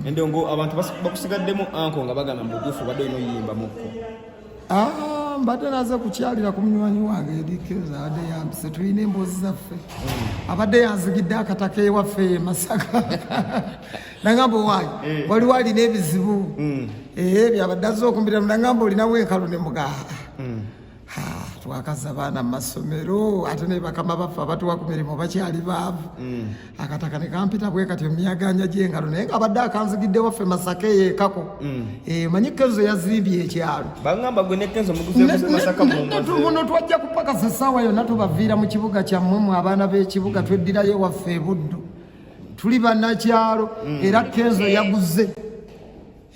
endongo abantu bakusigaddemu anko nga bagamba mubutuufu obadde olina oyimba mukko ah, mbadde naze kukyalira ku munywanyi wange edikeza abadde yambise tulina emboozi zaffe hmm. abadde yanzigidde akataka ewaffe e masaka nagamba owaayi eh. waliwo alina ebizibu hmm. ebyo eh, abadde azze okumbiramu nagamba olinawo enkalu ne mugaha hmm. twakaza abaana mu masomero ate naye bakama baffe abatuwa ku mirimu bakyali baavu mm. akataka ne kampita bwe kati omuyaganya gy'engalo naye nga abadde akanzigidde waffe masaka eyo ekako mm. eh, manyi kenzo yazimbye ekyalo muno twajja kupakasa essaawa yonna tubaviira mu kibuga kyammwe mu abaana b'ekibuga tweddirayo waffe ebuddu tuli banakyalo mm. era kenzo yaguze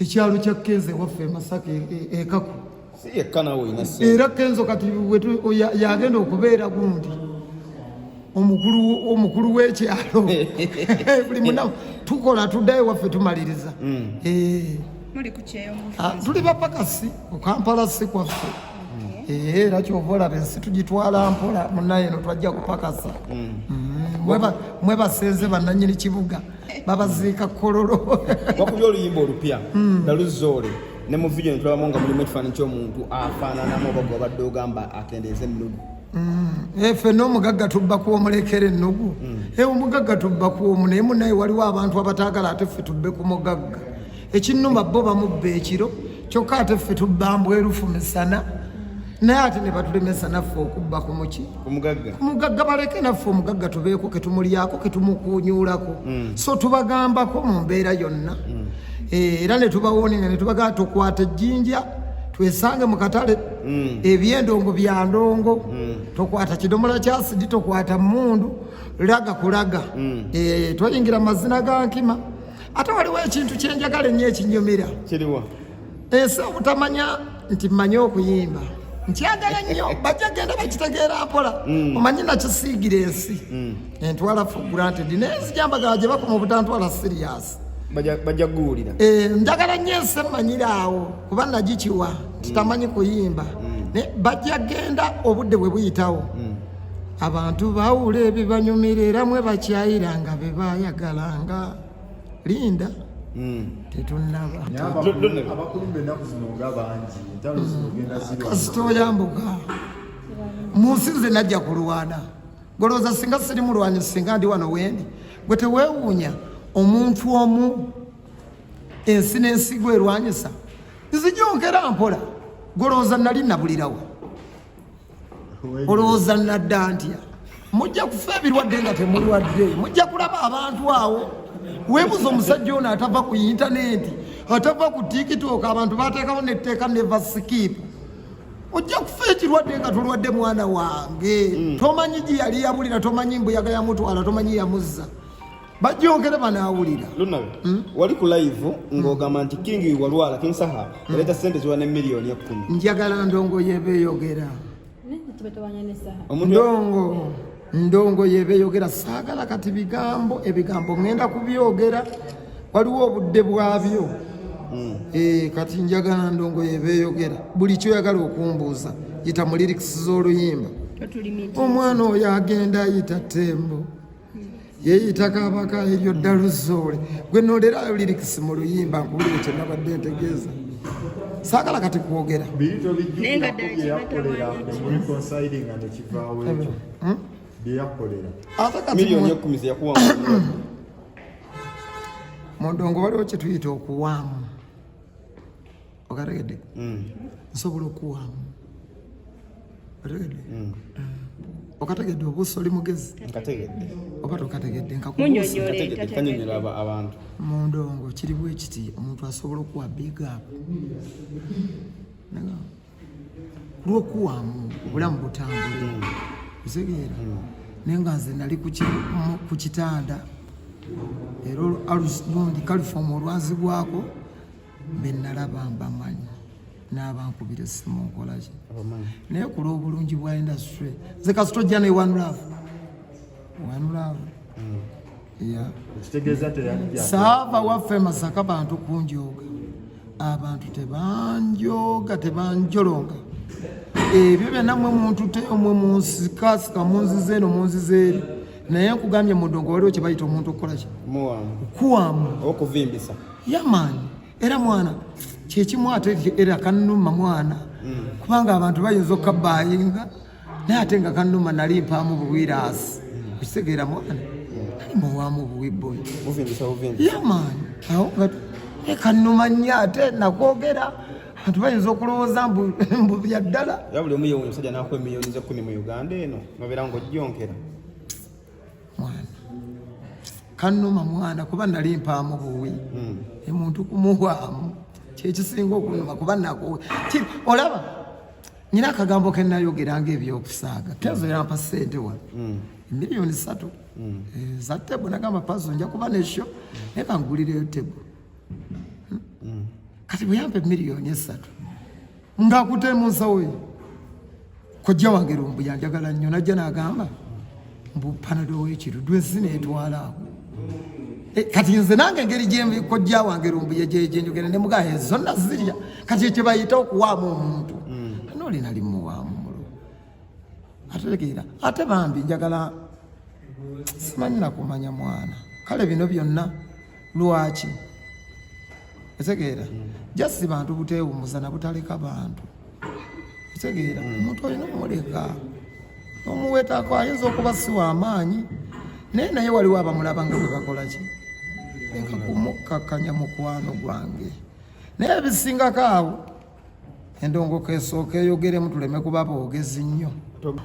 ekyalo kya kenze waffe masaka ekaku e, e era kenzo kati yagenda okubeera gundi omukulu w'ekyalo buli munaku tukola tuddayo waffe tumaliriza mm. eh. ah, tuli bapakasi okampala si kwaffe eh, era kyova olaba ensi tugitwala mpola munaye no twajja kupakasa mm. Mm. mwebasenze bananyini kibuga mm. babaziika kololo wakubye oluyimba olupya hmm. nga luzoole ne mu vidiyo netulabamu nga mulimu ekifaananyi kyomuntu afaananamu oba gwe wabadde ogamba akendeeza ennugu hmm. eh, ffe n'omugagga tubbaku omulekera ennugu hmm. eh, omugagga tubbaku omu naye munaye waliwo abantu abataagala ate ffe tubbe ku mugagga ekinnuma bo bamubba ekiro kyokka ate ffe tubbambwerufu misana naye ate ne batulemesa naffe okubba ku muki omugagga baleke naffe omugagga tubeeko ke tumulyako ke tumukunyuulako mm. so tubagambako mu mbeera yonna mm. eh, era ne tubawooninga ne tubagamba tukwata ejjinja twesange mu katale mm. ebyendongo bya ndongo tokwata kidomola kya sidi tokwata mmundu laga kulaga eh, toyingira mazina ga nkima ate waliwo ekintu kyenjagala ennyo ekinyumira kiriwa ensi obutamanya nti mmanyi okuyimba nkyagala nnyo bajja genda bakitegeera mpola mm. omanyi nakisiigira ensi mm. entwala for granted naye nzijambagala gye bakuma obutantwala siriasi bajja kuguwulira eh, njagala nnyo ensi emmanyira awo kuba nagikiwa nti mm. tamanyi kuyimba naye bajja genda obudde bwe buyitawo abantu bawula ebibanyumira era mwe bakyayira nga be bayagalanga linda hmm. tetunnabakasita oyambuka mu nsi nze najja kulwana golowooza singa siri mulwanyi singa ndi wano wendi gwe tewewuunya omuntu omu ensi n'ensigo erwanyisa nzijongera mpola golowooza nali nabulirawo olowooza nadda nti mujja kufa ebirwadde nga temulwadde mujja kulaba abantu awo webuza omusajja ono atava ku intanenti atava ku tikitoka abantu batekawo netteeka neva sikipu ojja kufa ekirwadde nga tulwadde mwana wange hmm. tomanyi gye yali yabulira tomanyi mbuyaga yamutwala tomanyi yamuzza bajjongere banaawulira lunawe hmm? wali ku live ng'ogamba nti kingi walwala king saha hmm. yaleeta sente ziwa ne miliyoni ekkumi njagala ndongo yebeeyogera ndongo ndongo yebeeyogera saagala kati bigambo ebigambo ŋenda kubyogera waliwo obudde bwabyo hmm. eh, kati njagala ndongo yebeeyogera buli kyoyagala okumbuuza yita mu lirikisi z'oluyimba omwana oyo agenda ayita tembo yeeyita kabaka eryo ddalu zoole gwe nolerayo lirikisi mu luyimba nkuwulire kye nabadde ntegeeza saagala kati kwogera mundongo waliwo kyetuyita okuwaamu okategedde mm. nsobola okuwaamu otegedde mm. eh. okategedde obuusa oli mugezi oba tokategedde nkakubuusaanyonyola abantu mu ndongo kiri bwe kiti omuntu asobola okuwa bigapu kulwokuwaamu obulamu butambule mm. otegeera naye nga nze nali ku kitanda era lundi kalifoomu olwazibwako be nalaba mbamanyi n'abankubira essimu nkola ki naye ku lw'obulungi bwa industry nze kasita ojja ne one love one love mm. saava waffe masaka bantu kunjooga abantu tebanjooga tebanjolonga ebyo byonna mwe muntu te omwe munsikasika munziza eno munziza eri naye nkugambye mudongo waliwo kye bayita omuntu okukola ki kuwamu okuvimbisa yamaani era mwana kyekimu ate era kanuma mwana hmm. kubanga abantu bayinza okukabbayinga naye ate nga kanuma nali mpaamu buwiraasi okitegeera hmm. mwana nali muwaamu buwibboyi yamaani awo nga eh, kanuma nnyo ate nakwogera abantu bayinza okulowooza mbu bya ddala yabuli omu yewe omusajja nakuwa emiliyoni zekumi mu uganda eno nobeera ngaojjonkera mwana kanuma mwana kuba nali mpaamu buwi hmm. emuntu kumuhwamu kyekisinga okunuma kuba nakuwe olaba nyina akagambo kenayogeranga ebyokusaaga kenzo yampa sente wa hmm. miliyoni satu hmm. eh, za tebo nagamba pazo nja kuba nesho naye kangulireyo tebo kati bweyampa emiliyoni esatu nga akute mu nsawo ye kojja wange lumbu yanjagala nnyo najja nagamba mbu panado wekiru dwensi netwala ako eh, kati nze nange engeri gyekojja wange lumbu yegyenjogera ne mugaa zonna zirya kati ekyo bayita okuwaamu omuntu mm. nolina limuwaamu mulo ategeera ate bambi njagala simanyi nakumanya mwana kale bino byonna lwaki etegeera mm. just bantu butewumuza nabutaleka bantu etegeera mm. omuntu olina omuleka omuwetako ayinza okuba siwa amaanyi naye naye waliwo abamulaba nga bwebakolaki leka kumukkakanya mukwano gwange naye ebisingako awo endongoka esooka eyogeremu tuleme kuba boogezi nnyo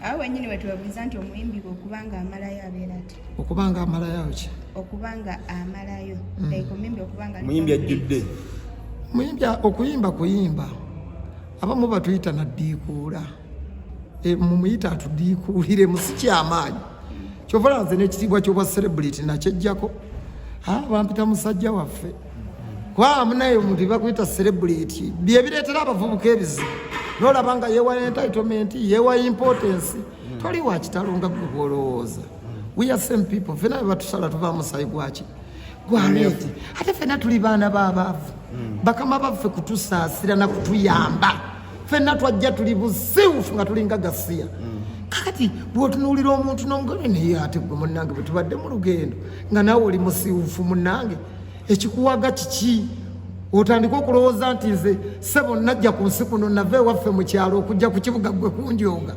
awo wenyini wetubabuuza nti omuyimbi gwe okuba nga amalayo abeera ti okuba nga amalayo ki okuba nga amalayo mm. like omuyimbi okuba nga muyimbi ajjudde muyimbi okuyimba kuyimba abamu batuyita naddiikuula e, mumuyita atudiikuulire musikyamaanyi kyovala nze n'ekitiibwa kyobwa celebrity nakyejjako bampita musajja waffe kwa munaye omuntu bakuyita celebrity byebireetera abavubuka ebizibu nolaba nga yewa entitlement yewa importance toli wakitalo nga gwe bwolowooza we are same people fena bebatusala tuva musayi gwaki gwaleti ate fena tuli baana babaavu bakama baffe kutusaasira na kutuyamba fena twajja tuli busiwufu nga tulinga gasiya kakati bwotunuulira omuntu nongone naye ate gwe munange bwetubadde mu lugendo nga nawe oli musiwufu munange ekikuwaga kiki otandika okulowooza nti nze sebo najja ku nsi kuno nava ewaffe mu kyalo okujja ku kibuga gwe kunjonga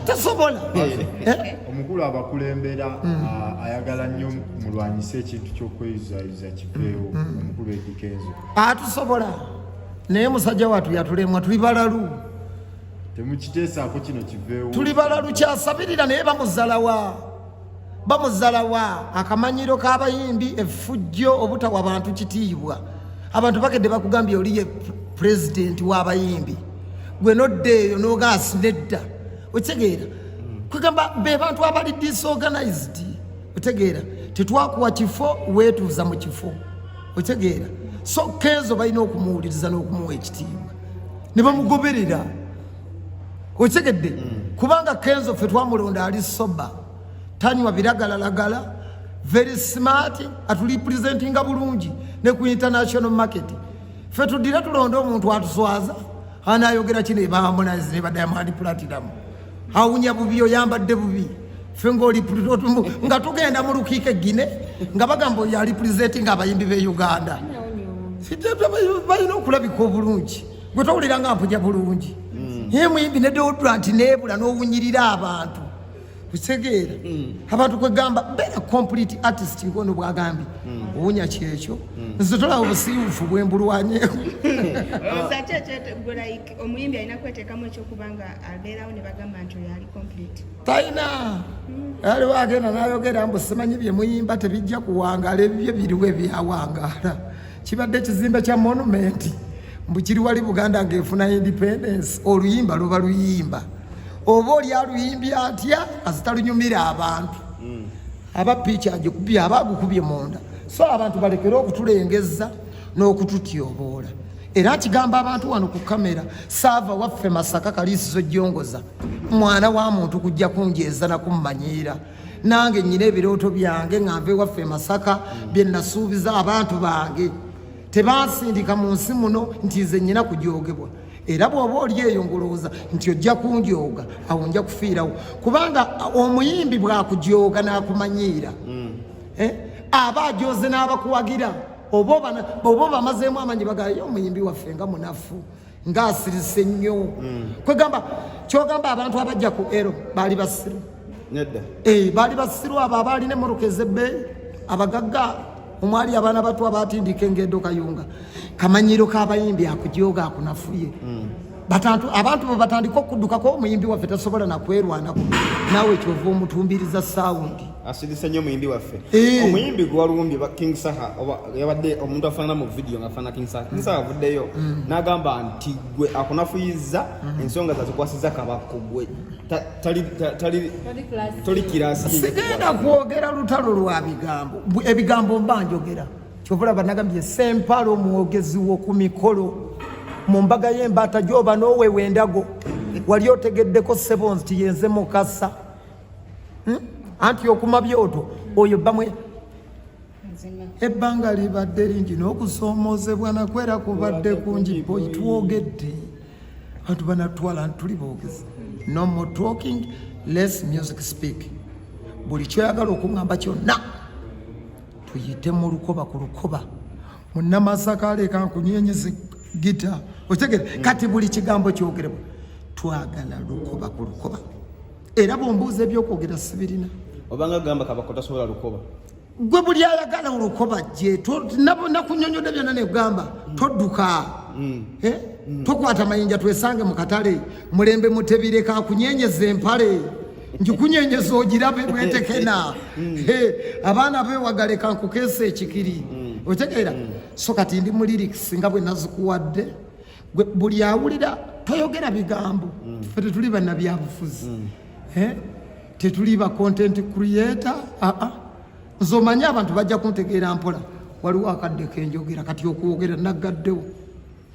tasobola eh? eh? omukulu abakulembera hmm. ah, ayagala nnyo mulwanyise ekintu kyokweyuzayuza kiveewo hmm, hmm. omukulu edikenzo atusobola ah, naye musajja watu yatulemwa tuli balalu temukiteesaako kino kiveewo tuli balalu kyasabirira naye bamuzalawa bamuzalawa akamanyiro k'abayimbi efujjo obutawa bantu kitiibwa abantu bakedde bakugambye oli ye pulezidenti w'abayimbi gwe nodda eyo nogaasi nedda okitegeera kwegamba be bantu abali disorganized otegeera tetwakuwa kifo weetuuza mu kifo otegeera so kenzo balina okumuwuliriza n'okumuwa ekitiibwa ne bamugoberera okitegedde mm. kubanga kenzo ffe twamulonda ali soba tanywa biragalalagala very smart atulipresentinga bulungi ne ku international market ffe tudire tulonde omuntu atuswaza anayogera kino ebahamunazi ne badayamandi platinum awunya bubi oyambadde bubi ffe ngaoli nga tugenda mu lukiiko egine nga bagamba oyo alipresentinga abayimbi be uganda balina okulabika obulungi gwe towulira nga mpuja bulungi mm. ye muyimbi ne deodorant nebula n'owunyirira abantu kutegeera mm. abantu kwegamba beera complete artist ngono bwagambye mm. owunya kyekyo nze tolaba obusiiwufu bwembulwanyeeko talina aliwo agenda nayogera mbu simanyi byemuyimba tebijja kuwangaala ebibyo biriwo ebyawangaala kibadde ekizimbe kya monumenti mbu kiri wali buganda ng'efuna independence oluyimba luba luyimba oba oli aluyimbi atya azitalunyumira abantu hmm. aba piiki agikubye aba agukubye munda so abantu balekere okutulengeza n'okututyoboola era akigamba abantu wano ku kamera saava waffe masaka kaliisizo jongoza mwana wa muntu kujja kunjeeza nakummanyiira nange nyina ebirooto byange nga nva ewaffe masaka bye nasuubiza abantu bange tebansindika mu nsi muno nti nze nyina kujoogebwa era bw'oba oli eyo ngulowooza nti ojja kunjooga awo nja kufiirawo kubanga omuyimbi bwakujooga n'akumanyiira mm. eh, aba ajooze n'abakuwagira oba obamazeemu amanyi bagayo omuyimbi waffe nga munafu nga asirise nnyo mm. kwegamba kyogamba abantu abajja ku ero baali basiru nedda eh, baali basiru abo abaalina emmotoka ezebbeeyi abagagga omwali abaana batu abatindika engedo kayunga kamanyiro kabayimbi akujoga akunafuye mm. batantu abantu bebatandika okudukako omuyimbi waffe tasobola nakwerwanako nawe kyova omutumbiriza sawundi asidise nnyo omuyimbi waffe eh. omuyimbi gwewalumbye king saha yabadde omuntu afanana mu vidiyo nga afanana king saha king saha avuddeyo mm. nagamba nti gwe akunafuyiza mm-hmm. ensonga zazikwasiza kabakko gwe toli kirasisigenda kwogera lutalo lwa bigambo ebigambo mba njogera kyovolaba nagambye sempala omwogezi woku mikolo mu mbaga y'embaata gyoba n'owewendago wali otegeddeko sebonzi tiyenze mukasa hmm? anti okuma byoto oyo bamwe ebbanga libadde lingi n'okusoomoozebwa nakwera kubadde kungi boyi twogedde bantu banatwala ntituli boogezi no more talking less music speak buli kyoyagala okuŋamba kyonna tuyite mu lukoba ku lukoba munamasaka aleeka nkunyenyezi gita okitegere kati buli kigambo kyogerebwa twagala lukoba ku lukoba era bwombuuza ebyokwogera sibirina obanga gamba kabako tasobola lukoba gwe buli ayagala olukoba jje nakunyonyodde byonna negamba mm. todduka mm. Eh? Mm. tokwata mayinja twesange mu katale mulembe mutebireka kunyenyeza empale njikunyenyeza ogirabe bwetekena eh, abaana bewagaleka nkukeesa ekikiri otegeera so kati ndi mu liriks nga bwe nazikuwadde gwe buli awulira toyogera bigambo mm. fe tetuli banabyabufuzi mm. eh? tetuli ba content creator aa ah, ah. nze omanyi abantu bajja kuntegeera mpola waliwo akadde kenjogera kati okwogera naggaddewo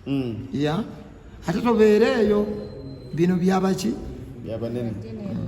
mm. ya ate tobeereeyo bino byabaki byabanene